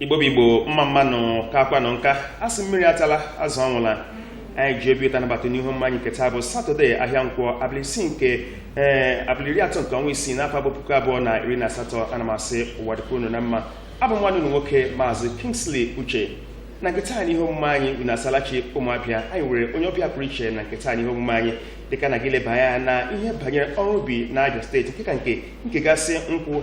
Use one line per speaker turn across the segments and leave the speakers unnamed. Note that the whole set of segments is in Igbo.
igbo bụ igbo mma mma nụ kaakwanụ nka a sị mmiri atala azụ anwụla anyị ji obi ụtọ anabata n'ihe omume anyị nke taa bụ satọde ahịa nkwọ abalị isii nke ee abalị iri atọ nke ọnwa isii n'afọ bụ puku abụọ na iri na asatọ ana m asị ụwa dịkwa unu na mma abụ m nwanne unu nwoke maazị kingsley uche na nke taa n'ihe omume anyị unu asaala chi ụmụ abịa anyị nwere onye ọbịa pụrụ iche na nke taa n'ihe omume anyị dịka a na-aga ileba anya na ihe banyere ọrụ ubi na abịa steeti nke ka nke nke gbasara nkwụ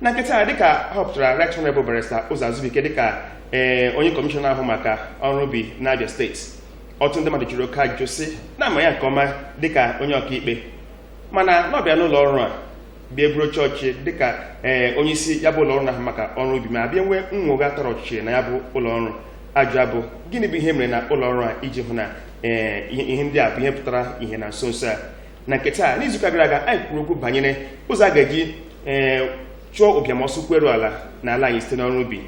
na nke taa dịka a họpụtara Right Honorable Barrister Ụzọ Azụbụike dịka ee onye kọmishọna na-ahụ maka ọrụ ubi n'Abia steeti ọtụtụ ndị mmadụ jụrụ oke ajụjụ sị na a ma ya nke ọma dịka onye ọkaikpe mana na ọ bịa n'ụlọ ọrụ a bịa eburu oche ọchịchị dịka ee onye isi ya bụ ụlọ ọrụ na-ahụ maka ọrụ ubi ma bịa nwee nnwogha tọrọ ọchịchị na ya bụ ụlọ ọrụ ajụjụ a bụ gịnị bụ ihe e mere na ụlọ ọrụ a iji hụ na ee ihe ihe ndị a bụ ihe pụtara ihe na nso nso a na nke taa n'izuụka gara aga anyị kwuru okwu banyere ụzọ a ga-eji ee eh, chụọ ụbịam ọsọ ụkwụ eru ala na ala anyị site n'ọrụ ubi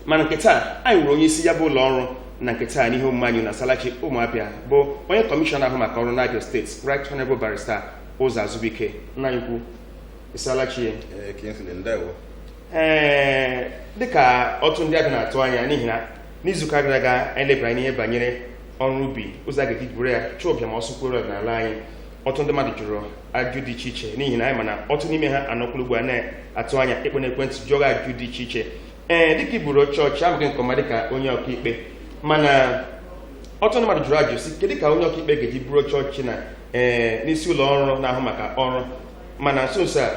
mana nke taa anyị nwere onye isi ya bụ ụlọ ọrụ na nke taa n'ihe omume anyị unu asaala chi ụmụ Abịa bụ onye kọmishọna na-ahụ maka ọrụ n'Abia steeti Right Honorable Barrister Ụzọ Azụbụike nna anyị ukwu ị saala chi ee eh, eh, dịka ọtụtụ ndị Abịa na-atụ anya n'ihi na n'izuụka gara aga anyị lebara anya n'ihe banyere ọrụ ubi ụzọ a ga-eji buru ya chụọ ụbịam ọsọ ụkwụ eru ala n'ala anyị ọtụtụ ndị mmadụ jụrụ ajụjụ dị iche iche n'ihi na anyị ma na ọtụtụ n'ime ha anọkwuru ugbu a na-atụ anya ịkpọ n'ekwentị jụọ ajụjụ dị iche iche ee dịka i buru oche ọchịchị a ma gị nke ọma dịka onye ọkaikpe mana ọtụtụ ndị mmadụ jụrụ ajụ sị kedu ka onye ọkaikpe ga-eji buru oche ọchịchị na ee n'isi ụlọ ọrụ na-ahụ maka ọrụ mana nso nso a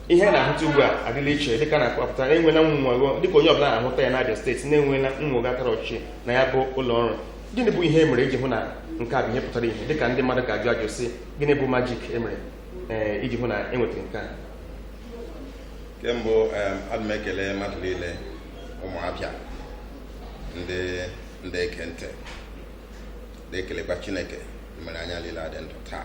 ihe a na-ahụta ugbu a adịla iche dịka a na-akpọpụta na e nweela nnwogha dịka onye ọbụla na-ahụta ya n'Abịa steeti na e nweela nnwogha akara ọchịchị na ya bụ ụlọ ọrụ gịnị bụ ihe e mere iji hụ na nke a bụ ihe pụtara ihe dịka ndị mmadụ ga-ajụ ajụjụ sị gịnị bụ majik e mere eh, iji hụ na e nwetara nke a kemgbe ana m ekele mmadụ niile ụmụ Abịa ndị ndị na-ege ntị na-ekelekwa chineke mere anyị niile adị ndụ taa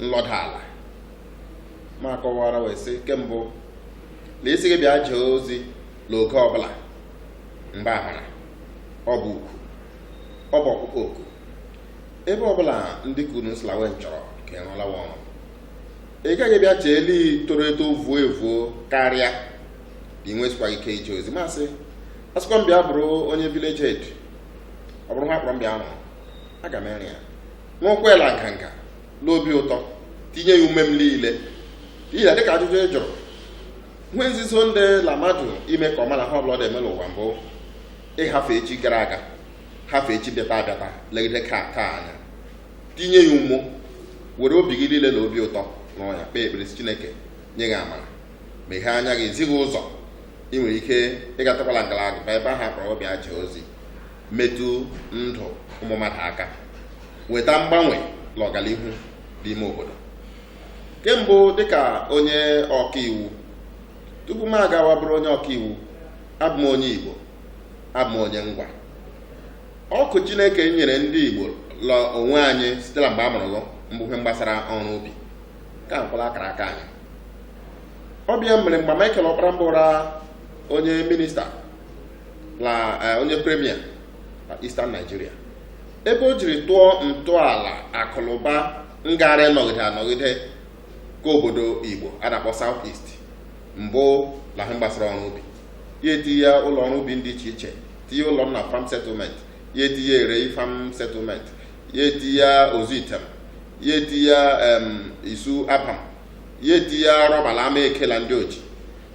nlọda ala ma kọwara wee sị ke mbụ a sị gị bịa jee ozi n'oge ọbụla mgbe ahara ọ bụ ukwu ọ bụ ọkpụkpọ oku ebe ọbụla ndị ke unu sị la we chọrọ ka ị rụọla wa ọrụ ị gaghị bịa chee la i toro eto vuo evuo karịa ị nwesịkwa ike ije ozi ma sị a sịkwa m bịa bụrụ onye village head ọ bụrụ ha kpọrọ m bịa rụọ aga m ere ya n'ụkwụ ịla nganga n'obi ụtọ tinye ya ume m niile n'ihi na dịka ajụjụ ị jụrụ ihe nzuzo ndị la mmadụ ime ka ọma la ihe ọbụla ọ na-eme n'ụwa mbụ ịhafe echi gara aga hafe echi bịata abịata legide ka taa anya tinye ya ume were obi gị niile na obi ụtọ rụọ ya kpee ekpere sị chineke nye gị amara meghee anya gị zi gị ụzọ ị nwere ike ịgatakwala ngalaba ebe ahụ a kpọrọ bịa jee ozi metụ ndụ ụmụ mmadụ aka weta mgbanwe na ọganihu dị ime obodo ke mbụ dịka onye ọkaiwu tupu m agawa bụrụ onye ọkaiwu abụ m onye Igbo abụ m onye Ngwa ọkụ Chineke nyere ndị Igbo la onwe anyị site na mgbe a mụrụ mbụ ihe gbasara ọrụ ubi ka nkwala akara aka anyị ọ bụ ya mere mgbe Michael Ọkpara mbụ onye minista na eh, onye premier na Eastern Nigeria ebe o jiri tụọ ntọala akụnụba ngara ịnọgide anọgide ka obodo Igbo a na-akpọ South East mbụ na ihe gbasara ọrụ ubi ya etinye ya ụlọ ọrụ ubi dị iche iche tinye Ụlọnna farm settlement ya etinye Erei farm settlement ya etinye Ozuitem ya etinye em, Isu Abam ya etinye rọba na Amaeke la Ndị Oji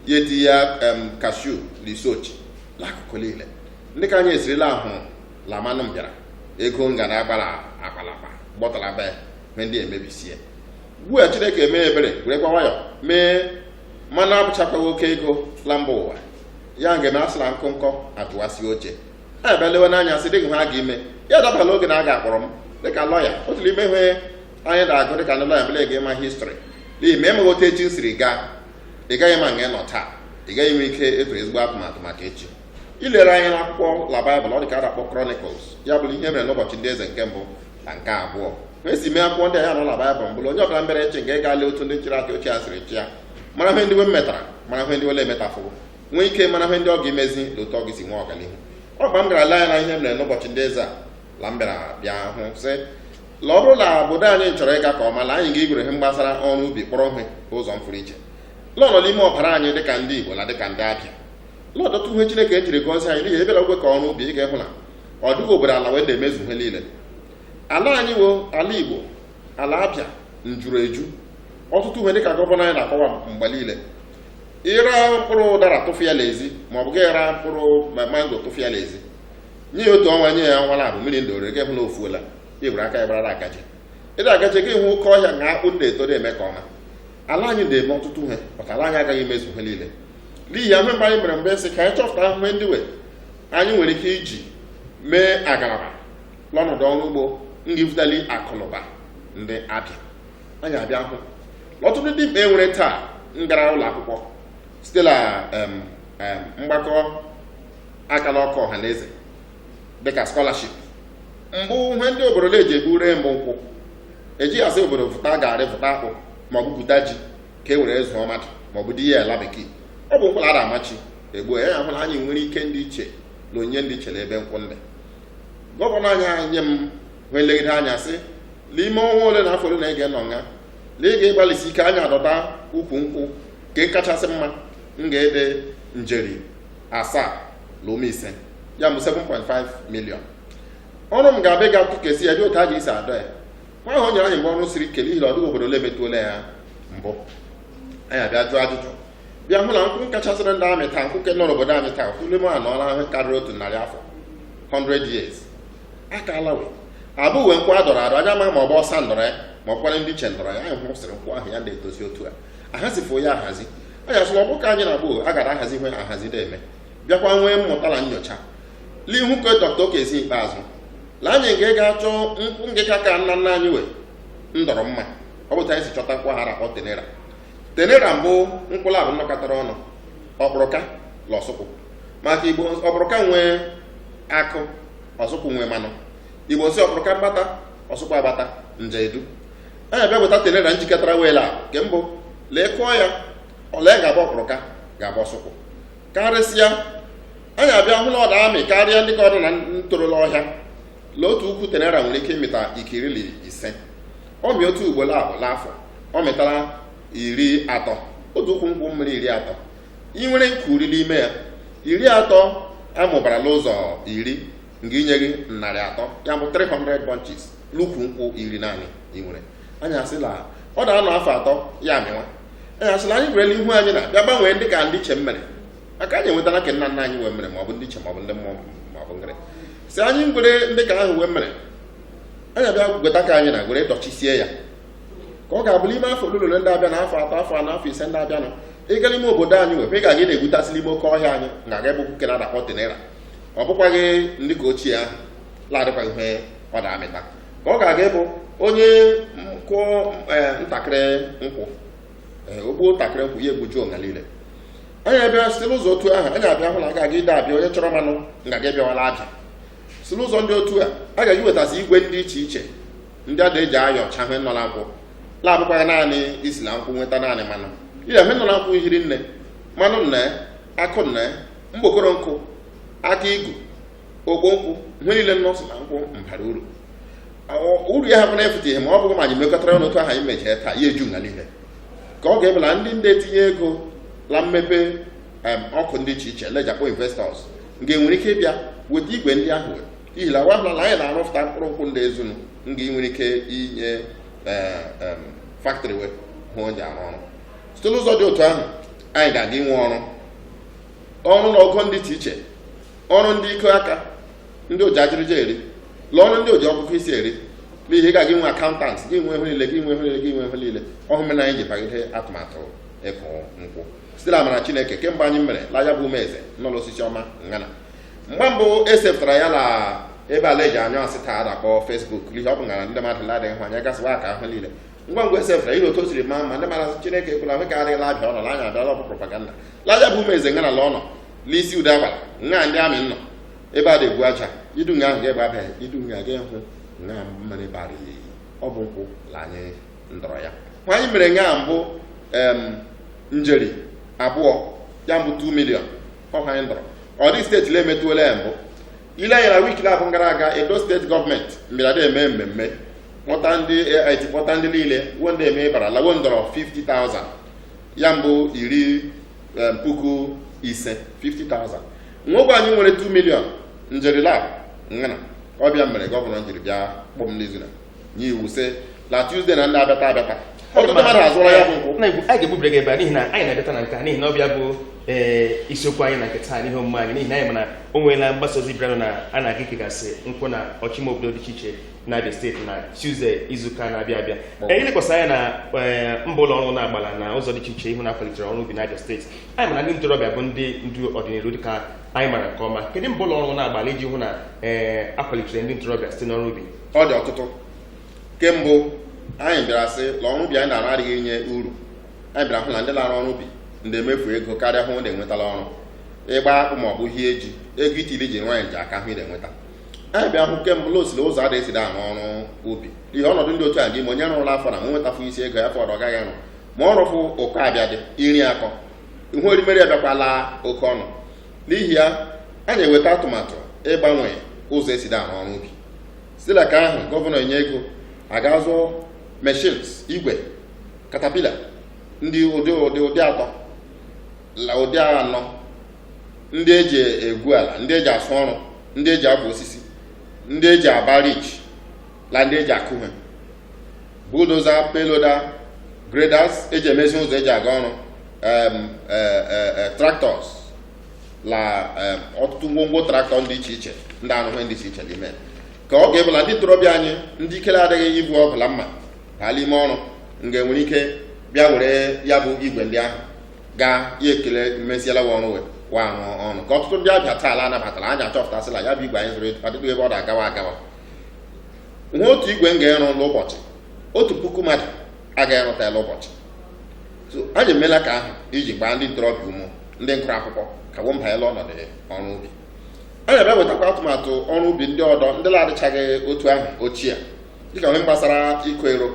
ya eti ya em kashu na Isuochi na akụkụ niile ndị ka anyị esirila ahụ la mmanụ bịara ego nga na agbara akpa la akpa gbọtara be me ndị emebisie ugbu a chineke mee ebere werekwa nwayọ mee mmanụ abụchakwaghị oke ego la mba ụwa ya nga eme a sị la nkụ nkọ atụwasị oche ha ebe lewe n'anya sị dịghị ihe a ga-eme ya dabala oge na a ga-akpọrọ m dịka lọya otu n'ime ihe anyị na-agụ dịka ndị lọya bụ la ị ga-ema history n'ihi ma ị maghị otu echi siri gaa ị gaghị ama nga ị nọ taa ị gaghị nwee ike ịtụ ezigbo atụmatụ maka echi i lere anya na akwụkwọ la baịbụl ọ dị ka a na-akpọ Chronicles ya bụrụ ihe mere n'ụbọchị ndị eze nke mbụ na nke abụọ ma esi mee akwụkwọ ndị a ya nọ na baịbụl mbụ la onye ọbụla mere eze nga ị ga-ale otu ndị chịrị achị ochie siri chịa mara ihe ndị we metara mara ihe ndị wele emetafụrụ nwee ike mara ihe ndị ọ ga-emezi na otu ọ ga-esi nwee ọganihu mgbe m gara lee anya na ihe mere n'ụbọchị ndị eze a la m bịara bịa hụ sị la ọ bụrụ na obodo anyị chọrọ ịga ka ọma la anyị ga-egwere ihe gbasara ọrụ ubi kpọrọ ihe ụzọ mfụrụ iche la ọ nọ n'ime ọbara anyị dịka ndị igbo na dịka ndị abịa la ọtụtụ ihe chineke jiri gọzie anyị n'ihi ebere ogwe ka ọrụ ubi ị ga-ehụ na ọ dịghị obodo ala we na-emezu ihe niile ala anyị wụ ala igbo ala abịa njuru eju ọtụtụ ihe dịka gọvanọ anyị na-akọwa mgbe niile ị ra mkpụrụ ụdara tụfịa n'ezi maọbụ gị ra mkpụrụ mango tụfịa n'ezi nye ya otu ọnwa nye ya ọnwa labụ mmiri ndị orege hụ na o fuola i were aka ya gbarara agaje ịda agaje gị hụ oke ọhịa na akpụ na-eto na-eme ka ọma ala anyị na-eme ọtụtụ ihe maka ala anyị agaghị emezu ihe niile n'ihi ahụ mgbe anyị mere mgbe sị ka anyị chọpụta ahụhụ ndị we anyị nwere ike iji mee agalaba n'ọnọdụ ọrụ ugbo ngivutali akụnụba ndị abịa anyị abịa hụ ọtụtụ dimkpa e nwere taa ngara ụlọ akwụkwọ site na mgbakọ aka la nkwụ ọha na eze dịka skọlaship mbụ ihe ndị obodo na-eji egbu ree mbụ nkwụ ejighị asị obodo vụta garị vụta akpụ maọbụ gwuta ji ka e were zụọ mmadụ maọbụ di ya ala bekee ọ bụ nkwụ la a da-amachi egbu ya a hụ la anyị nwere ike ndị iche na onyinye ndị iche na ebe nkwụ ndị gọvanọ anyị enwee nlegide anya sị n'ime ọnwa ole na afọ ole na-ege nọ nga na ị ga-agbalịsi ike anya adọta ukwu nkwụ nke kachasị mma nga-adị njeri asaa na ụma ise ya bụ 7.5 million ọrụ m ga-abịa ga nkụkesi ya dị otu a ga-esi adọ ya nwa ahụ o nyere anyị mbụ ọrụ siri ike n'ihi na ọ dịghị obodo ole emetụola ya mbụ anyị abịa jụọ ajụjụ bịa hụ na nkwụ kachasịrị nda-amị taa nkwụ nke nọ n'obodo anyị taa kwụle m anọọla ihe karịrị otu narị afọ 100 years aka alawe abụ uwe nkwụ a dọrọ adọ anyị ama ma ọ bụ ọsa ndọrọ ya ma ọ bụkwara ndị ichie ndọrọ ya anyị hụsịrị nkwụ ahụ ya na-etozi otu a ahazifụ ya ahazi anyị asị la ọ bụ ka anyị na ugbu a gara ahazi ihe ahazi na-eme bịakwa nwee mmụta na nyocha lee ihu ka dọkta okezie ikpeazụ la anyị nke ga-achọ nkwụ nke ka ka nna nna anyị we ndọrọ mma ọ bụ otu anyị si chọta nkwụ ahụ a da-akpọ tenera tenera mbụ nkwụ labụ nnọkọtara ọnụ ọkpụrụka la ọsụkwụ maka igbo ọkpụrụka nwee akụ ọsụkwụ nwee manụ igbo nsị ọkpụrụka mgbata ọsụkwụ agbata nje edu anyị abịa weta tenera njikọtara we la nke mbụ la ị kụọ ya ole ga-abụ ọkpụrụka ga-abụ ọsụkwụ karịsịa anyị abịa hụ na ọ na-amị karịa ndị ka ọ dị na ntoro la ọhịa la otu ukwu tenera nwere ike ịmịta ike iri la ise ọ mị otu ugboro abụ n'afọ ọ mịtara iri atọ otu ukwu nkwụ mmịrị iri atọ ị nwere nkwụ iri n'ime ya iri atọ a mụbara la ụzọ iri nga-inye gị narị atọ ya bụ 300 bunches n'ukwu nkwụ iri naanị ị nwere anyị asị la ọ na-anọ afọ atọ ya amịwa anyị asị la anyị werela ihu anyị na bịa gbanwee ndị ka ndị ichie mmere maka anyị enwetara ka nna nna anyị we mere ma ọ bụ ndị ichie ma ọ bụ ndị mmụọ ma ọ bụ ngịrị si anyị ngwere ndị ka ahụ wee mere anyị abịa gweta ka anyị na gwere dọchisie ya ka ọ ga-abụ n'ime afọ ole la ole ndị abịa na afọ atọ afọ anọ afọ ise ndị abịa nọ ịga n'ime obodo anyị wee ị ga anyị na-egbutasị la ime oke ọhịa anyị na aga ebe nkwụ ke a da-akpọ tenera ọ bụkwaghị ndị ka ochie ahụ la-adịkwaghị ihe ọ na-amịta ka ọ ga-aga ịbụ onye kụọ eh, ntakịrị nkwụ eh, o gbuo ntakịrị nkwụ ya egbujuo nga niile anyị abịa site n'ụzọ otu ahụ anyị abịa hụ na a ga-aga ide Abia onye chọrọ mmanụ nga-aga ịbịawa la Abia si n'ụzọ ndị otu a a ga-eji wetasị igwe ndị iche iche ndị a na-eji ayọcha ihe nọ na nkwụ la abụkwaghị naanị isi na nkwụ nweta naanị mmanụ ihe nọ na nkwụ hiri nne mmanụ nne akụ nne mgbokoro nkwụ aka igu ogbo nkwụ ihe niile nọsị na nkwụ mbara uru uru ya hapụ na-afụta ihe ma ọ bụghị ma anyị mekọtara ọnụ otu ahụ anyị mechie taa ya eju nga niile ka ọ ga-abụ la ndị nde etinye ego la mmepe akụ ndị iche iche la e ji akpọ investors nke nwere ike ịbịa weta igwe ndị ahụ ihi na wo ahụla na anyị na-arụpụta mkpụrụ nkwụ ndị ezuru nga nwere ike inye factory wo ji arụ ọrụ site n'ụzọ dị otu ahụ anyị ga-aga inwe ọrụ ọrụ la ogo ndị dị iche ọrụ ndị iko aka ndị oji ajịrịja eri la ọrụ ndị oji ọkụkọ isi eri n'ihi ị ga-aga inwe accountant ị ga-enwe ihe niile ọ ihe mere na anyị ji bagide atụmatụ ịkụ nkwụ site na amara chineke kemgbe anyị mere l'Ahiaba Umueze nọ la Osisioma nga na mgbe mbụ e sepụtara ya na ebe ala eji anyụ asị taa a na-akpọ Facebook n'ihi ọ bụ nga ndị mmadụ la-adịghị hụ anya gasịwa aka ahụ niile ngwa ngwa e sefụra ihe otu o siri maa mma ndị mara chineke ekwela hụ ka adịghị la Abia ọ nọ na anya abịala ọ bụ propaganda l'Ahiaba Umueze nga na la ọ nọ n'isi ude agbara nga ndị army nọ ebe a na-egbu aja idu nga ahụ ga-egbe abịa idu nga ga hụ nga mmanụ ebe arị ya eyi ọ bụ nkwụ la anyị ndọrọ ya nwa anyị mere nga mbụ em njeri abụọ ya mbụ 2 million ọ ha anyị ndọrọ ọ dịghị steeti na-emetụola ya mbụ i lee anya na wiki laabụ gara aga Edo steeti gọọmenti mbịara eme mmemme kpọta ndị AIT kpọta ndị niile wo nde eme bara la wo ndọrọ 50,000 ya mbụ iri em, puku ise 50,000 nwogbe anyị nwere 2 million njeri laabụ nga na ọ bụ ya mere gọvanọ njiri bịa kpọọ m n'izu na nye iwu sị na Tuesday na ndị abịata abịata ọtụtụ mmadụ azụrụ ya bụ nkwụ na egwu anyị ga-egbubiri gị ebe a n'ihi na anyị na-abịata na nke a n'ihi na ọ bụ ya bụ ee isiokwu anyị na nke taa n'ihe omume anyị n'ihi na anyị ma na o nweela mgbasa ozi bịara na a na-aga ikegasị nkwụ na ọchịchị obodo dị iche iche na Abia steeti na Tuesday izuụka na-abịa abịa ee ilekwasị anya na ee, mbọ ụlọ ọrụ na-agbala na ụzọ dị iche iche ịhụ na a kwalitere ọrụ ubi na Abia steeti anyị ma na ndị ntorobịa bụ ndị ndu ọdịnihu dịka anyị mara nke ọma kedu mbọ ụlọ ọrụ na-agbala iji hụ na ee a kwalitere ndị ntorobịa site n'ọrụ ubi ọ dị ọtụtụ kemgbe anyị bịara sị na ọrụ ubi anyị na-arụ adịghị enye uru anyị bịara hụ na ndị na-arụ ọrụ ubi ndị emefu ego karịa ihe ndị enweta la ọrụ ịgba akpụ ma ọ bụ hie ji ego itili ji nwaanyị ji aka ihe ị na-enweta anyị bịa hụ kemgbe ụlọ osiri ụzọ ada esiri arụ ọrụ ubi ihe ọnọdụ ndị otu a dị ma onye rụrụ la afọ na ma nwetafụ isi ego ya afọ ọdọ ọ gaghị arụ ma ọ rụfụ ụkọ abịa dị iri akọ ihe erimeri abịakwala oke ọnụ n'ihi ya anyị eweta atụmatụ ịgbanwe ụzọ esiri arụ ọrụ ubi si la aka ahụ gọvanọ enye ego a ga-azụ machines igwe katapila ndị ụdị ụdị ụdị atọ la ụdị anọ ndị eji egwu ala ndị eji asụ ọrụ ndị eji egbu osisi ndị eji aba ridge la ndị eji akụ ihe bulldozer payloader graders eji emezi ụzọ eji aga ọrụ em, eh, eh, eh, tractors la eh, ọtụtụ ngwongwo traktọ dị iche iche ndị arụ ihe dị iche iche ime ka ọ ga-abụ la ndị ntorobịa anyị ndị ike la-adịghị ibu ọgụ la mma gaa la ime ọrụ nga enwere ike bịa were ya bụ igwe ndị ahụ gaa ya ekele mmeziela wa ọrụ wee wa arụ ọrụ ka ọtụtụ ndị abịa taa ala anabatara anyị achọpụtasịla ya bụ igwe anyị zụrụ adịghị ebe ọ na-agawa agawa ihe otu igwe nga-arụ n'ụbọchị otu puku mmadụ agaghị arụta la ụbọchị so anyị emeela ka ahụ iji gbaa ndị ntorobịa ume ndị ngụrụ akwụkwọ ka wo banye la ọnọdụ ọrụ ubi anyị abịa wetakwa atụmatụ ọrụ ubi ndị ọdọ ndị na-adịchaghị otu ahụ ochie dịka nke gbasara ịkụ ero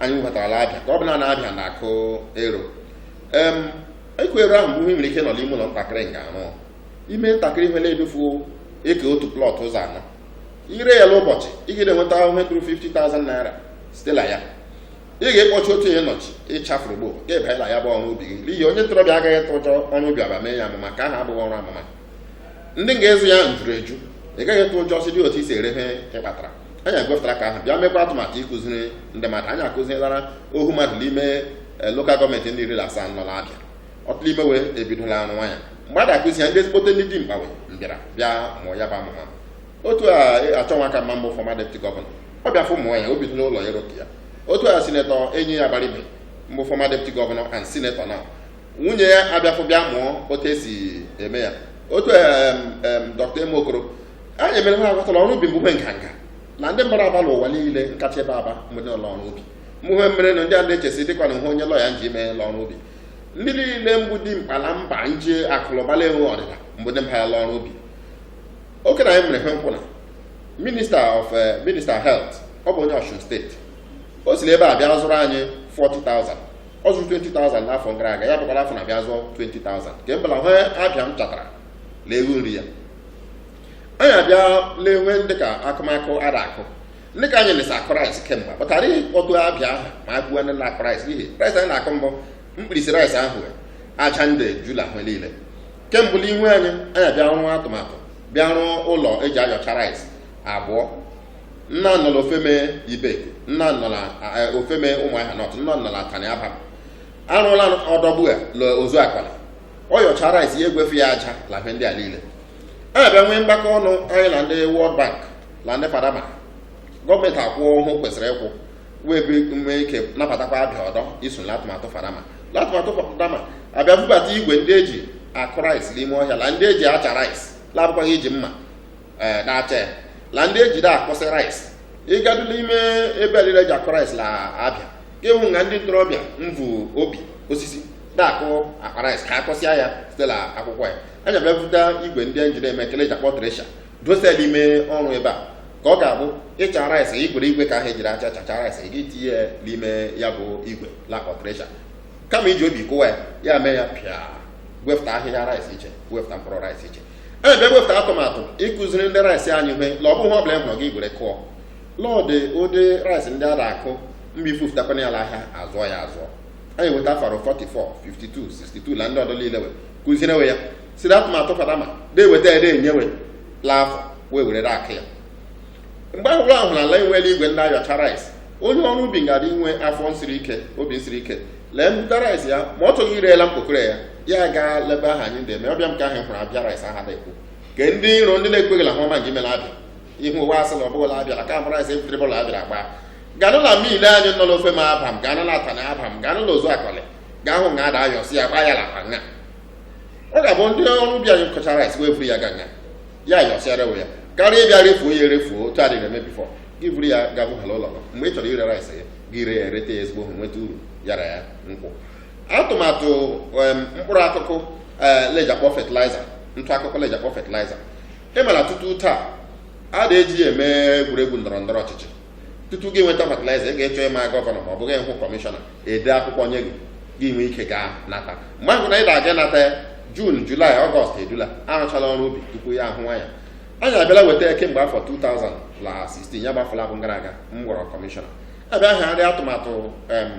anyị webatara abịa ka ọ bụ la abịa na-akụ ero em ịkụ ero ahụ mbụ ihe i nwere ike nọ n'ime ụlọ ntakịrị nga arụ ime ntakịrị ihe na-erufu ekee otu plọt ụzọ anọ i ree ya n'ụbọchị ị ga na-enweta ihe ruru 50,000 naira site na ya ị ga-ekpọchi otu ihe nọchi ịchafụrụ gbo ka ị banye la ya bụ ọrụ ubi gị n'ihi onye ntorobịa agaghị ịtụ ụjọ ọrụ ubi aba mee ya amụma ka aha abụghị ọrụ amụma ndị ga-azụ ya njuru eju ị gaghị ịtụ ụjọ si dị otu i si ere ihe ị kpatara anyị ewepụtara ka ahụ bịa mekwa atụmatụ ịkụziri ndị mmadụ anyị akụzilara ohu mmadụ n'ime eh, lokal gọọmenti ndị iri na asaa nọ n'abịa ọtụtụ ime wo ebidola ọrụ nwa ya mgbe a ga-akụzi ya ndị ezigbote ndị dimkpa wee mbịara bịa mụọ ya bụ amụma otu a achọ nwakanma mbụ fọma depụti gọvanọ ọ bịa fụ ụmụ nwaanyị obi n'ụlọ ya ya otu a sinetọ enyi abaribe mbụ fọma depụti gọvanọ and sinetọ na nwunye ya abịafụ bịa mụọ otu esi eme ya otu dọkịta eme okoro anyị mere ha aghọtala ọrụ ubi mbụ ihe nganga na ndị mmadụ aba n'ụwa niile nkacha ebe aba mbụ ndị ọrụ ubi mbụ ihe mere na ndị a na-echesi dịkwa na hụ onye lọya nji mee n'ọrụ ubi ndị niile mbụ dimkpa na mba nji akụ la ụba la enwe ọdịda mgbe ndị mba ya la ọrụ ubi oke na anyị mere ha nkwụ na minista of eh, minista health ọ bụ onye Ọsun steeti o si ebe a bịa zụrụ anyị 40,000 ọ zụrụ 20,000 n'afọ gara aga ya bụkwara afọ na bịa zụọ 20,000 nke mbala hụ abịa m chatara lee ego nri ya anyị abịa lee nwee ndị ka akụmakụ a da-akụ ndị ka anyị si akụ rice kemgbe kpatara ọtụ Abịa aha ma a gụọ ndị na-akụ rice n'ihi rice anyị na-akụ mbụ mkpirisi rice ahụ aja ndị jula ahụ niile ke mbụ l'ihu anyị anyị abịa rụọ atụmatụ bịa rụọ ụlọ eji ayọcha rice abụọ nna nọ la Ofeme ibe nna nọ la eh, Ofeme Ụmụahịa Nọt nna nọ la Atani Abam a rụla ọdọ ugbu a na Ụzụakọlị ọ yọcha rice ya egwefụ ya aja la ife ndị a niile anyị abịa nwee mgbakọ ọnụ anyị na ndị World Bank na ndị Fadama gọọmenti akwụọ ihe o kwesịrị ịkwụ wee nwee ike nabatakwa Abịa ọdọ iso n'atụmatụ Fadama n'atụmatụ Fadama abịa bubata igwe ndị eji akụ rice n'ime ọhịa la ndị eji acha rice l'abụkwaghị iji mma ee na-acha ya la ndị eji da-akụsị rice ị gadu n'ime ebe lile eji akụ rice la Abịa ị hụ nga ndị ntorobịa mvu obi osisi na-akụ akpa rice ka akụsịa ya site na akwụkwọ ya anyị abịa bute igwe ndị eji eme ke eji akpọ tresha dose l'ime ọrụ ubi a ka ọ ga-abụ ị cha rice ị gwere igwe ke ahụ ejiri acha chacha rice ị ga-etinye ya n'ime ya bụ igwe la-akpọ tresha kama iji obi kụwa ya ya mee ya pịa wepụta ahịhịa rice iche wepụta mkpụrụ rice iche ebe bịa wepụta atụmatụ ịkụziri ndị rice anyị ihe la ọ bụghị ọbụla ị hụrụ gị gwere kụọ l'ọ dụ ụdị rice ndị a na-akụ mgbe i vufụtakwana ya ahịa a zụọ ya azụọ anyị weta faro 44 52 62 na ndị ọdọ niile we kụziere we ya siri atụmatụ Fadama na-eweta ya na-enye we la afọ wee were aka ya mgbe a hụrụ ahụ na ala enweela igwe ndị ayọcha rice onye ọrụ ubi ga-adị inwe afọ nsiri ike obi nsiri ike lee mbụta rice ya ma ọ chọghị ire la mkpokoro ya ya gaa l'ebe ahụ anyị na-eme ọbịa m ka ahụ hụrụ Abịa rice ahụ a na-ekwu ke ndị iro ndị na-ekweghị la ihe ọma nke ime la Abịa ihu ụwa asị na ọ bụghị la Abịa ka e mere rice ebutere bọla abịara gbaa ganụ na mill anyị nọ n'Ofeme Abam ganụ na Atani Abam ganụ na Ụzụakọlị gaa hụ nga a da-ayọsi ya gbaa ya l'akpa nga ọ ga-abụ ndị ọrụ ubi anyị kọchaa rice we eburu ya gaa nga a yọsịara we ya karịa ịbịa refuo ya erefuo otu adịghị eme bifọ gị buru ya ga bụhala ụlọ gị mgbe ị chọrọ ire rice gị gị ree ya reta ya ezigbo hụ nweta uru yara ya nkwụ atụmatụ em, mkpụrụ akụkụ ee, l'eji akpọ fertilizer ntụ akụkụ l'eji akpọ fertilizer ị ma la tutu taa a na-eji ya eme egwuregwu ndọrọ ndọrọ ọchịchị tutu gị nweta fatịlaịza ị ga-achọ ịma gọvanọ ma ọ bụ gaa hụ kọmishọna ede akwụkwọ nye gị gị nwee ike gaa nata mgbe ahụ na ị ga-aga nata ya jun julaị ọgọst e dula arụchala ọrụ ubi tupu ya ahụwa ya anyị abịala weta ya kemgbe afọ 2016 ya bụ afọ laabụ gara aga m ghọrọ kọmishọna a bịa hazie atụmatụ em,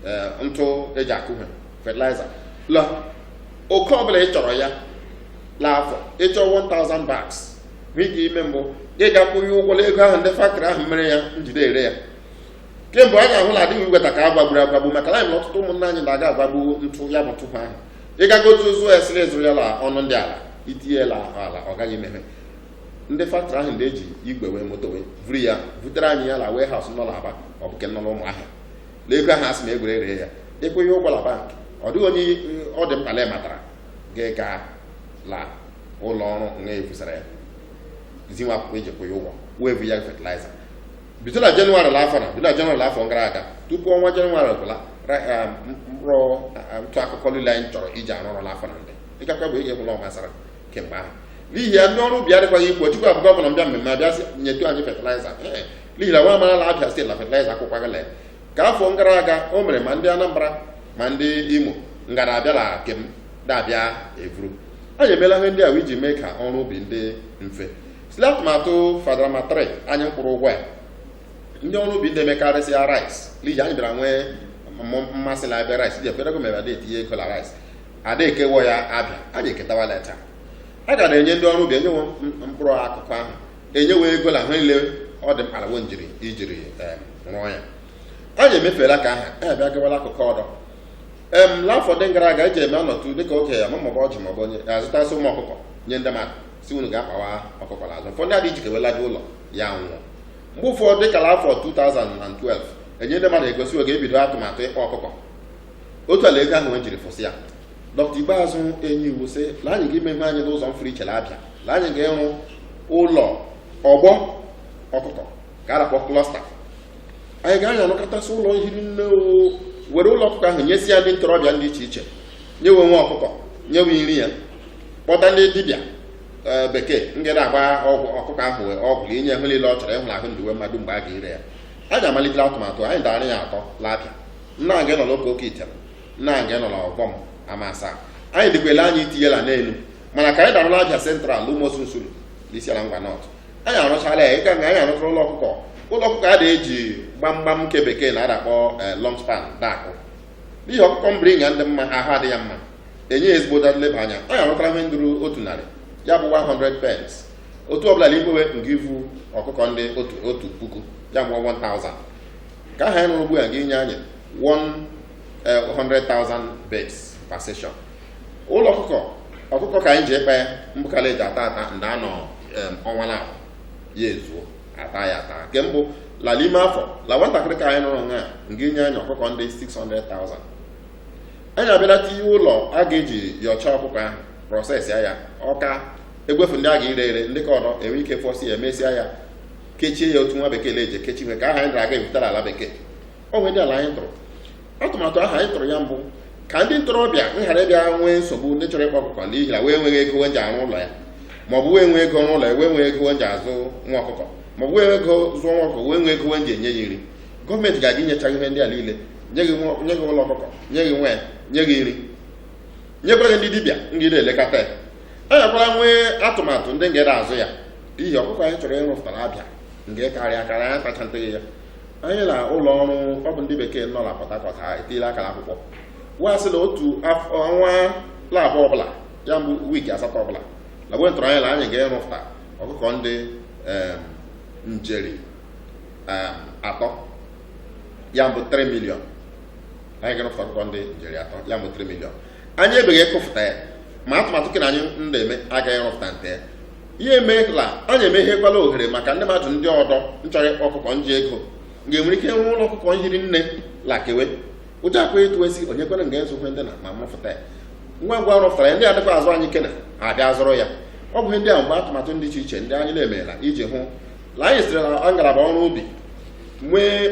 eh, ntụ eji akụ ihe fatịlaịza la oke ọbụla ị chọrọ ya la afọ ị chọọ 1000 bags nwee ike ime mbụ gị ga kwụnye ụgwọ n'ego ahụ ndị faktrị ahụ mere ya njide ere ya kemgbe a ga-ahụ na adịghị inweta ka a gbagburu agbagbu maka na anyị na ọtụtụ ụmụnna anyị na-aga agbagbu ntụ ya bụ ntụpụ ahụ ị gago otu ụzọ ya sịrị ị zụrụ ya la ọnụ ndị ala i tinye ya la ahụ ala ọ gaghị ememe ndị faktrị ahụ ndị eji igwe wee moto wee buru ya butere anyị ya la warehouse nọ n'Aba ọ bụ nke nọ n'Ụmụahịa na ego ahụ asị na egwere ree ya ekweghị ụgwọ la bank ọ dịghị onye ọ dị mkpa na matara gị ga la ụlọ ọrụ nga efusara ya zi we akwụkwọ iji kwụ ya ụgwọ wee bụ ya fetiliza bido na jenụwarị afọ na bido na jenụwarị afọ gara aga tupu ọnwa jenụwarị gwụla eh, mkpụrụ eh, ntụ akụkụ niile anyị chọrọ iji arụ ọrụ n'afọ na ndị ịgakwa bụ ihe gwụla ọmasara kemgbe ahụ n'ihi ya ndị ọrụ ubi adịkwaghị ikwu chukwu abụọ ọbụla m bịa mmemme abịa sị nyetu anyị fetiliza eh, n'ihi na nwa amara ala Abịa steeti na fetiliza akwụkwọ gala ka afọ gara aga o mere ma ndị Anambra ma ndị Imo ngara abịala kem da abịa evuru anyị emeela ihe ndị a iji mee ka ọrụ ubi ndị mfe site atụmatụ Fadama 3 anyị kwụrụ ụgwọ ya ndị ọrụ ubi ndị emekarịsịa rice liji anyị bịara nwee mmụ- mmasị na Abịa rice dị ekwerego mere a da etinye ego na rice a da eke wo ya abịa anyị eketawa leta a ga na-enye ndị ọrụ ubi enye wo m- mkpụrụ akụkụ ahụ enye wo ego na ihe niile ọ dị mkpa la wo njiri ijiri em, rụọ ya anyị emefeela ka aha anyị abịa gawala akụkụ ọdọ em n'afọ ndị gara aga eji eme anọtụ dịka oke ya ma maọbụ ọjị maọbụ onye a zụtasị ụmụ ọkụkọ nye ndị mmadụ sị unu gaa kpawa ọkụkọ n'azụ ụfọdụ adị ijike welaje ụlọ ya nwụọ mgbe ụfọdụ dịka afọ 2012 enye ndị mmadụ ego sị wo ga ebido atụmatụ ịkpa ọkụkọ otu a la ego ahụ nwe jiri fụsị ya dọkịta Ikpeazụ enye iwu sị la anyị ga imeme anyị n'ụzọ mfụrụ iche na Abịa la anyị ga-ịrụ ụlọ ọgbọ ọkụkọ ka a na-akpọ cluster anyị ga-anya arụkọtasị ụlọ nhiri nne e were ụlọ ọkụkọ ahụ nyesi ya ndị ntorobịa dị iche iche nye we nwa ọkụkọ nye we nri ya kpọta ndị dibịa ee, bekee ndị na-agba ọgwụ ọkụkọ ahụ wee ọgwụ ka e nye ihe niile ọ chọrọ ịhụrụ ahụ ndiwe mmadụ mgbe a ga-ire ya anyị amalitela atụmatụ anyị dara ya atọ la Abịa nna anyị nọ n'Okoko Item nna anyị nọ n'ọgbọm amasa anyị dịkwele anyị etinyela n'elu mana ka anyị da arụ la Abịa Central Ụmụosu Nsulu n'Isiala Ngwa North anyị arụchala ya ịga nga anyị arụchara ụlọ ọkụkọ ụlọ ọkụkọ a da eji gbamgbam nke bekee na a da akpọ long span da akụ n'ihi ọkụkọ mbiri nga ndị mma ahụ adị ya mma enye ya ezigbo nleba anya anyị arụchara ihe nduru otu narị ya bụwa 100 pens otu ọbụla na igbowe nke ivu ọkụkọ ndị otu otu puku ya bụwa 1000 ka aha anyị rụrụ ugbu a ga-enye anyị 100,000 birds per session ụlọ ọkụkọ ọkụkọ ka anyị ji akpa mbụ ka la-eji ata ata ndị anọ em, ọnwa na ya ezuo ata ya ata nke mbụ la la ime afọ la nwatakịrị ka anyị nọrọ nga nga inye anyị ọkụkọ ndị 600,000 anyị abịala tinye ụlọ a ga-eji yọcha ọkụkọ ahụ prọsesịa ya ọ ka egwefu ndị a ga-ire ere ndị ka ọdọ enwe ike fọsi ya emesịa ya kechie ya otu nwa bekee na-eji ekechi ihe ka aha anyị dara aga ebutara ala bekee o nwere ndị ala anyị tụrụ atụmatụ ahụ anyị tụrụ ya mbụ ka ndị ntorobịa nghara ịbịa nwee nsogbu ndị chọrọ ịkpa ọkụkọ n'ihi na we enweghị ego nji arụ ụlọ ya maọbụ wee nwee ego n'ụlọ ya wee nwee ego nji azụ nwa ọkụkọ maọbụ wee ego zụọ nwa ọkụkọ wee nwee ego nji enye ya nri gọọmenti ga-aga inyecha ihe ndị a niile nye gị ụlọ ọkụkọ nye gị nwa ya nye gị nri nyekwara gị ndị dibịa ndị na-elekọta ya enyekwara nwee atụmatụ ndị ngere azụ ya n'ihi ọkụkọ anyị chọrọ ịrụpụtara Abia nke karịa karịa ya tacha nteghị ya anyị na ụlọ ọrụ ọ bụ ndị bekee nọ na Port Harcourt ha etiela aka n'akwụkwọ wee sị na otu ọnwa laabụọ ọbụla ya mbụ wiiki asatọ ọbụla na we tụrụ anya na anyị ga-erụpụta ọkụkọ ndị njeri atọ ya mbụ 3 miliọn anyị ga-erụpụta ọkụkọ ndị njeri atọ ya mbụ 3 miliọn anyị ebeghị ekụfụta ya ma atụmatụ kena anyị na-eme agaghị rụpụta nte ya emeela anyị emeghekwala ohere maka ndị mmadụ ndị ọdọ nchọrọ ịkpa ọkụkọ nji ego ga-enwere ike wuo ụlọ ọkụkọ nhiri nne la ke we ụdị akwa etu esi onye kwere nga ezokwe ndị na ma mụfụta ya ngwa ngwa rụpụtara ya ndị adịkwa azụ anyị kena ha abịa zụrụ ya ọ bụ ihe ndị a mgbe atụmatụ dị iche iche ndị anyị na-eme la iji hụ na anyị sitere na ngalaba ọrụ ubi nwee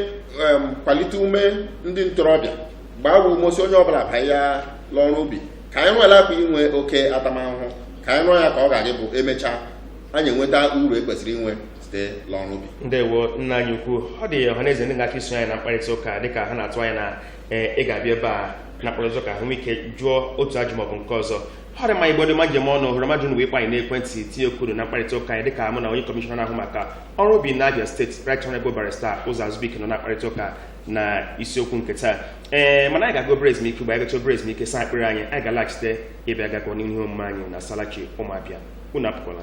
em, kwalite ume ndị ntorobịa gbaa we ume sị onye ọbụla banye ya n'ọrụ ubi ka anyị gharakwa inwe oke atamahụhụ ka anyị rụọ ya ka ọ ga-aga ịbụ emechaa anyị enweta uru ekwesịrị inwe site n'ọrụ ubi ndewo nna anyị ukwu ọ dị ọha na eze ndị ga-achọ iso anyị na mkparịta ụka dịka ha na-atụ anya na eh, ị ga-abịa ebe a na mkparịta ụka ahụ ike jụọ otu ajụjụ maọbụ nke ọzọ ọ dị mma igbo dị mma njem ọnụ hụrụ mmadụ na ịkpọ anyị n'ekwentị tinye kwuru na mkparịta ụka anyị dịka mụ na onye kọmishọna na-ahụ maka ọrụ ubi na Abia steeti Right Honorable Barrister Ụzọ Azubuike nọ na mkparịta ụka na isiokwu nke taa ee mana anyị ga-aga obere ezumike mgbe anyị gacha obere ezumike saa akpịrị anyị anyị ga-alaghachite ịbịa gakọ n'ihu n'ihe omume anyị na salachi ụmụ Abia unu apụkwala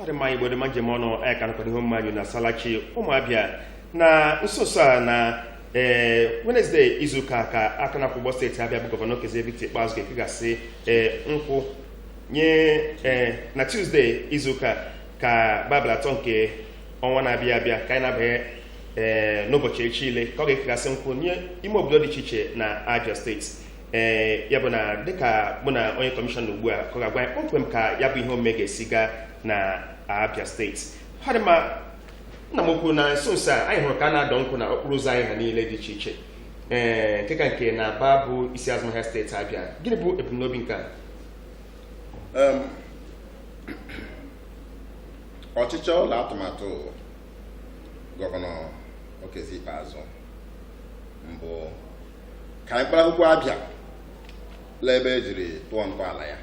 ọ dị mma igbo dị mma njem ọnụ anyị ka nọkwa n'ihe omume anyị na salachi ụmụ Abia na nso nso a na ee wenezdee izuụka ka aka na-akwọ ụgbọ steeti Abia bụ gọvanọ Okezie Victor Ikpeazụ ga-ekegasị ee nkwụ nye ee na tuzdee izuụka ka bụ abalị atọ nke ọnwa na-abịa abịa ka anyị na-abanye ee n'ụbọchị echi ile ka ọ ga-ekegasị nkwụ nye ime obodo dị iche iche na Abia steeti ee ya bụ na dịka mụ na onye kọmishọna ugbu a ka ọ ga-agwa anyị kpọmkwem ka ya bụ ihe omume ga-esi gaa na Abia steeti ọ dị mma nna m ukwu na nso nso a anyị hụrụ ka a na-adọ nkwụ na okporo ụzọ anyị ha niile dị iche iche ee nke ka nke na Aba bụ isi azụmahịa steeti Abia gịnị bụ ebumnobi nke a Em, ọchịchọ la atụmatụ gọvanọ Okezie Ikpeazụ mbụ ka anyị kpara akwụkwọ Abia la ebe e jiri tụọ ntọala ya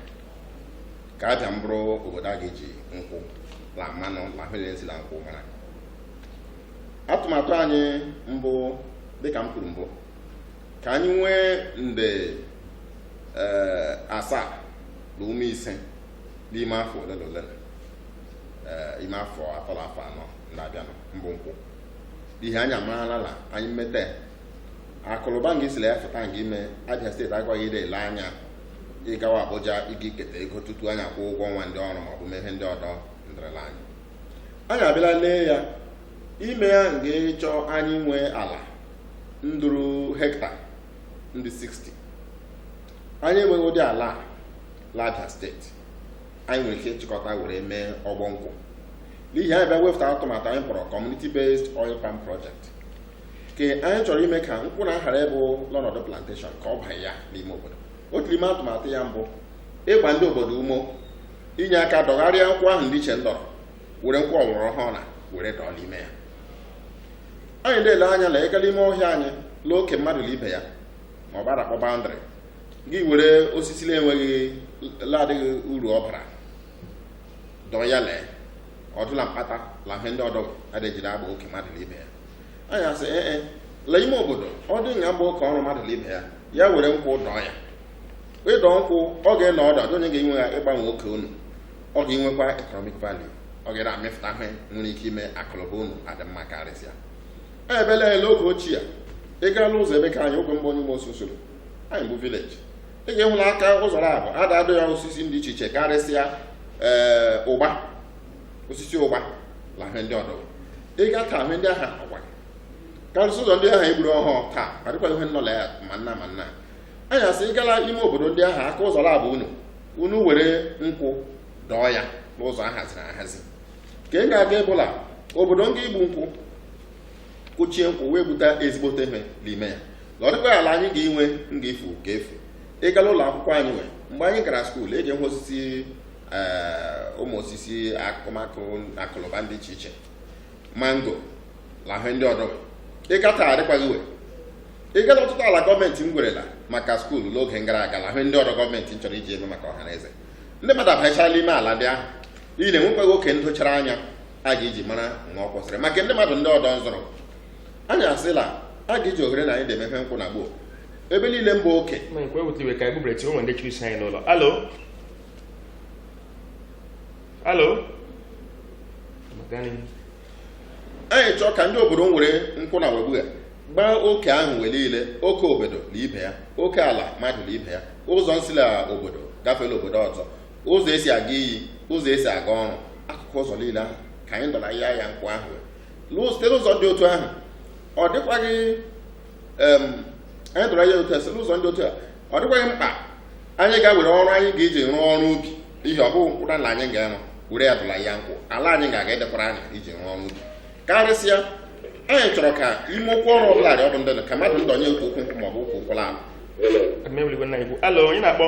ka Abia mbụrụ obodo a ga-eji nkwụ la mmanụ la mmiri esi la nkwụ mara atụmatụ anyị mbụ dịka m kwuru mbụ ka anyị nwee nde ee, asaa la ụma ise n'ime afọ ole na ole eh, ime afọ atọ na afọ anọ na-abịanụ mbụ nkwụ n'ihi anyị amaala na anyị mmeta ya akụ la ụba nga isi la ya fụta nga ime Abia steeti agakwaghị idi ele anya ịgawa Abuja ịga iketa ego tutu anyị akwụọ ụgwọ ọnwa ndị ọrụ maọbụ mee ihe ndị ọdọ ndịrịla anyị anyị abịala lee ya ime ya nga ịchọ anyị nwee ala nduru hekta ndị 60 anyị enweghị ụdị ala a Abia steeti anyị nwere ike ịchịkọta were mee ọgbọ nkwụ n'ihi anyị bịa wepụta atụmatụ anyị kpọrọ community based oil palm project nke anyị chọrọ ime ka nkwụ na aghara ịbụ n'ọnọdụ plantation ka ọ banye ya n'ime obodo otu n'ime atụmatụ ya mbụ ịgba ndị obodo ume inye aka dọgharịa nkwụ ahụ ndị ichie ndọrọ were nkwụ ọgbara ọhụrụ na were dọọ n'ime ya anyị na-ele anya na ị gaa n'ime ọhịa anyị lee oke mmadụ na ibe ya ma ọ bụ a na-akpọ boundary gị were osisi na-enweghị ladịghị uru ọ bara dọọ ya lee ọdụ la mkpata la ihe ndị ọdọ a dị eji agba oke mmadụ na ibe ya anyị asị ee e, la ime obodo ọ dị nga mgba oke ọrụ mmadụ na ibe ya ya were nkwụ dọọ ya ịdọ nkwụ ọ ga-anọdụ adịghị onye ga-enwe ike ịgbanwe oke unu ọ ga-enwekwa economic value ọ ga amịpụta ihe nwere ike ime akụnụba unu adị mma karịsịa ebele ele oge ochie ị gaala ụzọ ebe ka anyị oge mgbe onye ụgbọ ososoro anyị bụ vileji ị ga-ịhụ la aka ụzọ la abụọ a dị adọ ya osisi dị iche iche karịsịa ee eh, ụgba osisi ụgba la ihe ndị ọdọ ị ga taa ihe ndị ahụ agwa karịsị ụzọ ndị ahụ egburu ọhụụ taa adịkwa ihe nnọ la ya mana mana anyị asị ị gaa la ime obodo ndị ahụ aka ụzọ la abụọ unu unu were nkwụ dọọ ya n'ụzọ ahaziri ahazi ka ị ga-aga ịbụ la obodo nga igbu nkwụ kụchie nkwụ wee gbute ezigbote ihe n'ime ya na ọ dịkwa ala anyị ga-enwe m ga-efu ka efu ị gaa la ụlọ akwụkwọ anyị nwere mgbe anyị gara skuul e ji ahụ osisi eh, ụmụ osisi akụmakụ akụ la ụba ndị iche iche mango na ihe ndị ọdọ ị gaa taa adịkwaghị we ị gaa la ọtụtụ ala gọọmenti nwerela maka skuul n'oge gara aga na ihe ndị ọdọ gọọmenti nchọrọ iji eme maka ọha na eze ndị mmadụ abanyechala ime ala ndị ahụ n'ihi na enwekwaghị oke ndochara anya a ga-eji mara na ọ kwụsịrị maka ndị mmadụ ndị ọdọ nzọrọ anyị asị la a ga-eji ohere na anyị na-eme ihe nkwụ na gboo ebe niile mba oke Ma ekwe wute iwe ka anyị bụbere tinwe ndị chiri isi anyị n'ụlọ alo alo Magani. anyị chọọ ka ndị obodo nwere nkwụ na webugha gbaa oke ahụ wee niile oke obodo na ibe ya oke ala mmadụ na ibe ya ụzọ nsi la obodo gafee la obodo ọzọ ụzọ esi aga iyi ụzọ esi aga ọrụ akụkụ ụzọ niile ahụ ka anyị dọrọ ya ya nkwụ ahụ site n'ụzọ dị otu ahụ ọ dịkwaghị anyị dọrọ ya otu a site n'ụzọ dị otu a ọ dịkwaghị mkpa anyị ga-ewere ọrụ anyị ga-eji rụọ ọrụ ubi ihe ọ bụghị mkpụrụ na anyị ga-enwe were ya dọla ya nkwụ ala anyị ga-aga adịkwara anyị iji rụọ ọrụ ubi karịsịa anyị chọrọ ka ime okwu ọrụ ọbụla dị ọ bụ dịka mmadụ ndọnye otu ukwu nkwụ maọbụ okwu ụkwụla ala alo onye na-akpọ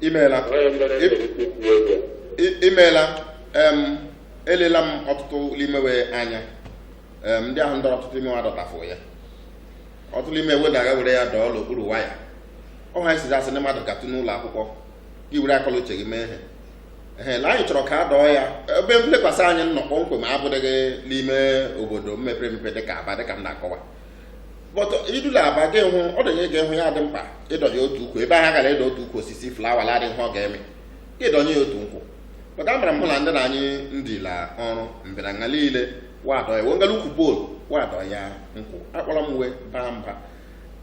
imeela onye mere Ị- mere isi dị ego I- imeela em elela m ọtụtụ ime we anya em ndị ahụ ndọrọ ọtụtụ ime we adọtafụ ya ọtụtụ ime we na-aga were ya dọọ n'okpuru waya ọ ha esizi asị na mmadụ gatụ n'ụlọ akwụkwọ gị were akọ la uche gị mee ihe ehe na anyị chọrọ ka a dọọ ya ebe m lekwasị anya nnọọ kpọmkwem abụdịghị n'ime obodo mepere emepe dịka aba dịka m na-akọwa but ị dị la aba gị hụ ọ dịnye gị hụ ya dị mkpa ịdọnye otu ukwu ebe ahụ kara ịdọ otu ukwu osisi flawa la-adịghị ihe ọ ga-eme gị dọnye ya otu nkwụ but amara m hụ na ndị na anyị ndila ọrụ mbịaranya niile wadọ ya wengala ukwu bol wadọ ya nkwụ akpọrọ m we baa mba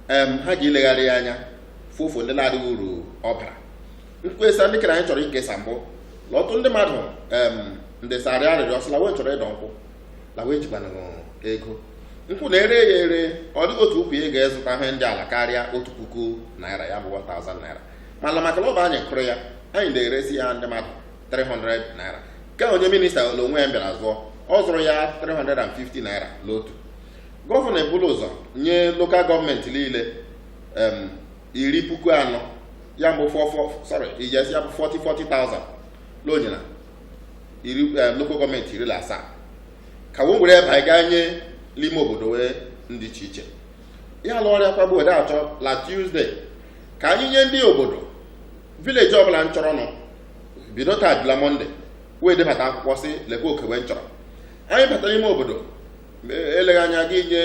em ha ga-ilegharị ya anya fụfụ ndị na-adịghị uru ọ bara nkesa ndị kere anyị chọrọ ikesa bụ na ọtụtụ ndị mmadụ em ndesara arịrịọ sị la we chọrọ ịdọ nkwụ la wa ejikwanụ ego nkwụ na-ere ya ere ọ dịghị otu ukwu ị ga-azụta ihe ndị ala karịa otu puku naira ya bụ 1000 naira mana maka na ọ bụ anyị kụrụ ya anyị na-eresi ya ndị mmadụ 300 naira ka onye minista l'onwe ya bịara zụọ ọ zụrụ ya 350 naira n'otu gọvanọ ebula ụzọ nye lokal gọọmenti niile em, iri puku anọ ya bụ 44 sorry yes ya bụ 40 40,000 n'onyinye iri eh, lokal gọọmenti iri na asaa ka wee were ebe anyị gaa nye n'ime obodo we ndị iche iche ya ala ọrịa kwagbu ode achọ la Tuesday ka anyị nye ndị obodo village ọbụla nchọrọ nọ bido taa bila Monday wee debata akwụkwọ sị lekwa oke we nchọrọ anyị batara n'ime obodo e- eleghị anya a ga-enye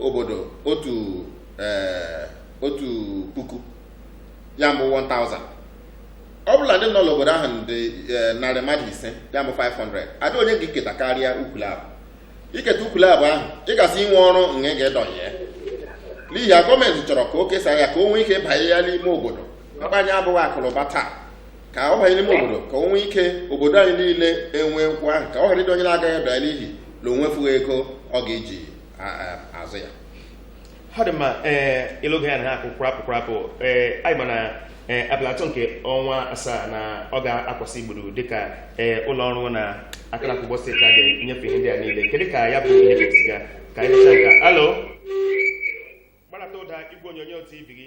obodo otu eh, otu puku ya mbụ 1000 ọ bụ la ndị nọ n'obodo ahụ dị eh, narị mmadụ ise ya bụ 500 adịghị onye ga-eketa karịa ukwu labụ i keta ukwu labụ ahụ ị ga-asị inwe ọrụ nga ị ga-edọnye ya n'ihi ya gọọmenti chọrọ ka e kesaa ya ka o nwee ike banye ya n'ime obodo mkpa anyị bụ akụnụba taa ka ọ banye n'ime obodo ka o nwee ike obodo anyị niile enwee nkwụ ahụ ka ọ ghara ịdị onye na-agaghị adọ n'ihi na o nwefughị ego ọ ga-eji a- a- azụ ya ọ dị mma ee ị nụgo ya na ha akụ kwụrapụ kwụrapụ ee anyị ma na ee abalị atọ nke ọnwa asaa na ọ ga-akwasị igburu dịka ee ụlọ ọrụ na-ahụ n'ịkọ ugbo steeti a ga-enyefe ihe ndị a niile kedu ka ya bụ ihe ga-esi ga ka anyị mechaa nke a alo gbarata ụda igwe onyonyo tv gị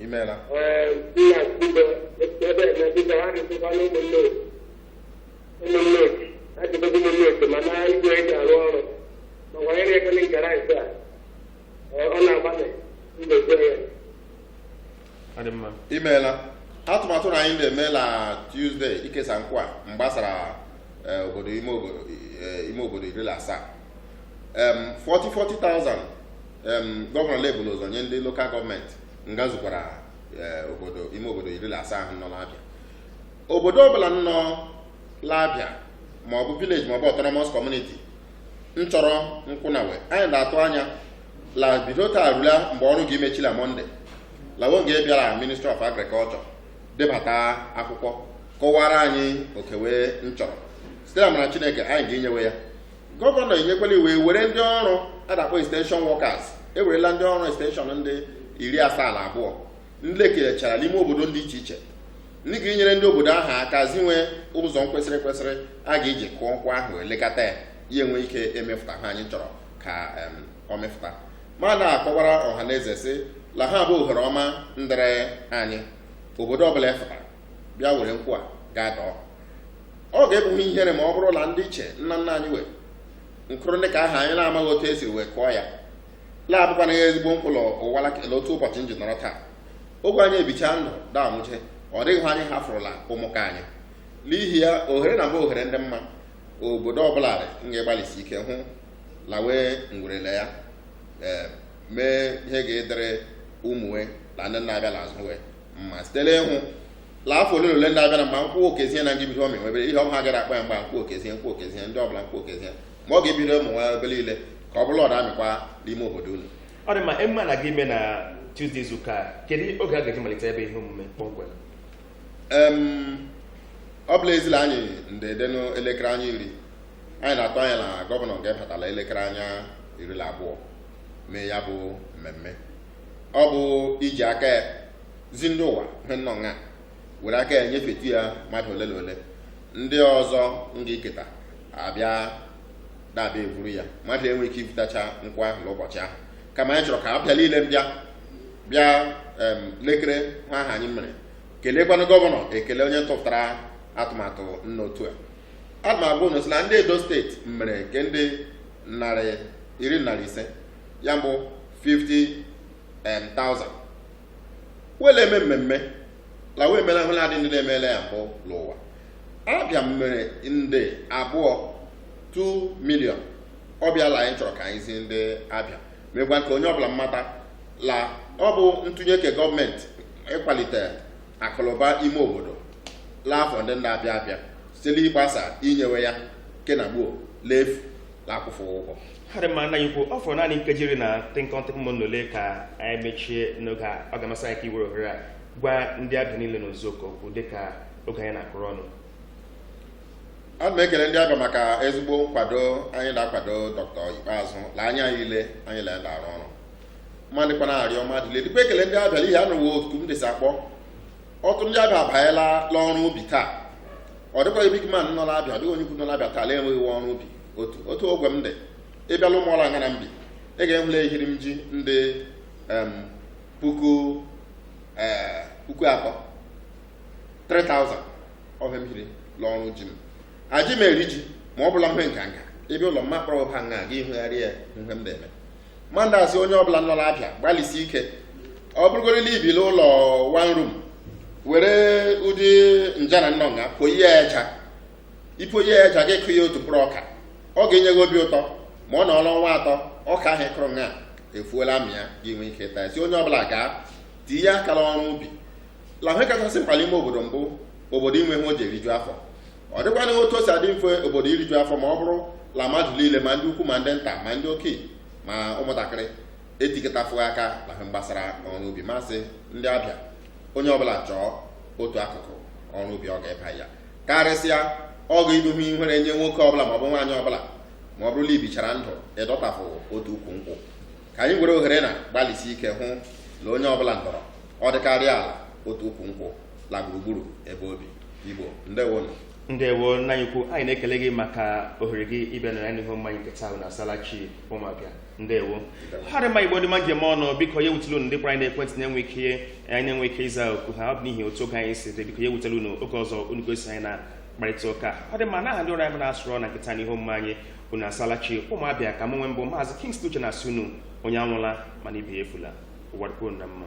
imeela Ọ dị mma. imeela atụmatụ na anyị na-eme na Tuesday ikesa nkwụ a mgbasara eh, obodo ime obodo eh, ime obodo iri na asaa Em, 40 40,000 gọvanọ ebula ụzọ nye ndị lokal gọọmenti nga zukwara eh, obodo ime obodo iri na asaa ahụ nọ n'Abịa obodo ọbụla nọ l'Abịa maọbụ village maọbụ autonomous community nchọrọ nkwụ na we anyị na-atụ anya la bido taa rula mgbe ọrụ ga-emechila Monday la wo nga-abịara ministry of agriculture debata akwụkwọ kọwara anyị oke we nchọrọ site n'amara Chineke anyị ga-enye we ya gọvanọ enyekwala iwu e were ndị ọrụ a na-akpọ extension workers ewerela ndị ọrụ extension ndị iri asaa na abụọ ndị ekelechara n'ime obodo dị iche iche ndị ga-enyere ndị obodo ahụ aka zi we ụzọ kwesịrị kwesịrị a ga-eji kụọ nkwụ ahụ lekọta ya ya enwee ike emefụta ihe anyị chọrọ ka ọ mefụta ma na-akọwara ọha na eze sị la ihe a bụ ohere ọma ndịrị anyị obodo ọbụla efụta bịa were nkwụ a gaa dọọ ọ ga-abụ ihe ihere ma ọ bụrụ na ndị ichie nna nna anyị we nkụrụ ndị ka aha anyị na-amaghị otu esiri wee kụọ ya na-abụkwana ya ezigbo mkpụrụ ụwa lakele otu ụbọchị m ji nọrọ taa ogwe anyị ebicha ndụ daa nwụche ọ dịghị ihe anyị hafụrụla ụmụaka anyị n'ihi ya ohere na mbụ ohere ndị mma obodo ọbụla dị nga-agbalịsi ike hụ la we nwerela ya ee mee ihe ga-adịrị ụmụ we na ndị na-abịa n'azụ we mma site n'ịhụ la afọ ole la ole ndị abịara ma nkwụ okezie na ndị bido ọmị nwebere ihe ọma gara akpa ya mgba nkwụ okezie nkwụ okezie ndị ọbụla nkwụ okezie ma ọ ga-ebido ụmụ nwa ebe niile ka ọ bụrụ ọ da-amịkwa n'ime obodo unu ọ dị mma ị ma na ga-eme na Tuesday izuụka a, kedu oge a ga-eji malite ebe ihe omume kpọmkwem em ọ bụ la ezi la anyị ndede n'elekere anya iri anyị na-atụ anya la gọvanọ ga-ebatala elekere anya iri la abụọ mee ya bụ mmemme ọ bụ iji aka ya zi ndị ụwa ihe nnọọ nga were aka ya nyefetu ya mmadụ ole na ole ndị ọzọ nga-eketa abịa da-abịa evuru ya mmadụ enwe ike ivutacha nkwụ ahụ l'ụbọchị ahụ kama anyị chọrọ ka abịa niile bịa bịa em, lekere ihe ahụ anyị mere kelekwanụ gọvanọ ekele onye tụpụtara atụmatụ nnọọ otu a atụmatụ unu sị la ndị edo state mere nke ndị narị iri narị ise ya bụ 50,000 wele eme mmemme la wa emela ihe la adị ndị na-emela ya mbụ l'ụwa abịa mmere nde abụọ 2 million ọ bụ ya la anyị chọrọ ka anyị zi ndị abịa mekwa ka onye ọbụla mmata la ọ bụ ntụnye nke gọọmenti ịkwalite akụnụba ime obodo la afọ ndị na-abịa abịa site l'ịgbasa inyewe ya nke na gboo l'efu na-akwụfụ ụgwọ ọ dị mma nna anyị ukwu ọ fọrọ naanị nkeji iri na tịnkọm tịnkọm ole ka anyị mechie n'oge a ọ ga-amasị anyị ka i were ohere a gwa ndị abịa niile n'ozuzu oke okwu dịka oge anyị na-akụrụ ọnụ adị m ekele ndị abịa maka ezigbo nkwado anyị la-akwado dọkịta ikpeazụ la anyị lile anyị la ya la-arụ ọrụ ma dịkwana arịọ mmadụ lile dịkwa ekele ndị abịa l'ihi anụwo oku m dịsị akpọ ọtụtụ ndị abịa abanyela l'ọrụ ubi taa ọ dịkwaghị big man nọ l'abịa ọ dịghị onye ukwu nọ l'abịa taa na-enweghị ọrụ ubi otu otu ogwe m dị ị bịa la ụmụọla nga m bi ị ga-ahụ la ehiri m ji ndị em, puku eh, puku atọ 3000 wụ ihe m hiri l'ọrụ ji m aji m eri ji ma ọ bụ la ihe nganga ị bịa ụlọ m akpọrọ ha nga gị hụgharịa ihe m de-eme ma na-asị onye ọbụla nọ l'abịa gbalịsi ike ọ bụrụgori la i bi l'ụlọ one room were ụdị nja na nnọnga poyi ya eja i poyi ya eja gị kụ ya otu mkpụrụ ọka ọ ga-enye gị obi ụtọ ma ọ nọọla ọnwa atọ ọka ahụ ị kụrụ ya efuola amịa gị nwee ike taa sị onye ọbụla gaa tinye aka la ọrụ ubi la ihe kachasị mkpa l'ime obodo mbụ obodo inwe ihe o ji eriju afọ ọ dịkwanụ otu o si adị mfe obodo iriju afọ ma ọ bụrụ la mmadụ niile ma ndị ukwu ma ndị nta ma ndị okenye ma ụmụntakịrị etikọtafụghị aka la ihe gbasara ọrụ ubi m asị ndị abịa onye ọbụla chọọ otu akụkụ ọrụ ubi ọ ga-eba ya karịsịa ọ ga-ịbụ ihe ihere nye nwoke ọbụla maọbụ nwaanyị ọbụla ma ọ bụrụ la i bichara ndụ ịdọtafụ otu ukwu nkwụ ka anyị were ohere na gbalịsi ike hụ la onye ọbụla ndọrọ ọ dịkarịa ala otu ukwu nkwụ la gburugburu ebe obi igbo ndewo ndewo nna anyị ukwu anyị na-ekele gị maka ohere gị ịbịa na anyị hụ mmanya nke taa na asalachi ụmụabịa ndewo ha dị mma igbo dị mma njem ọnụ biko ya ewutela unu ndị kpọrọ anyị n'ekwentị na-enweghị ike anyị na-enweghị ike ịza oku ha ọ bụ n'ihi otu oge anyị si dị biko ya ewutela unu oge ọzọ unu ga-eso anyị na mkparịta ụka ọ dị mma n'aha ndị ọrụ anyị na-asụrụ na nkịta n'ihu mma anyị unu asalachi ụmụabịa ka mụ nwa bụ maazị Kingsley Uche na-asị unu onye anwụla ma ibe ya efula ụwa dịkwuo na mma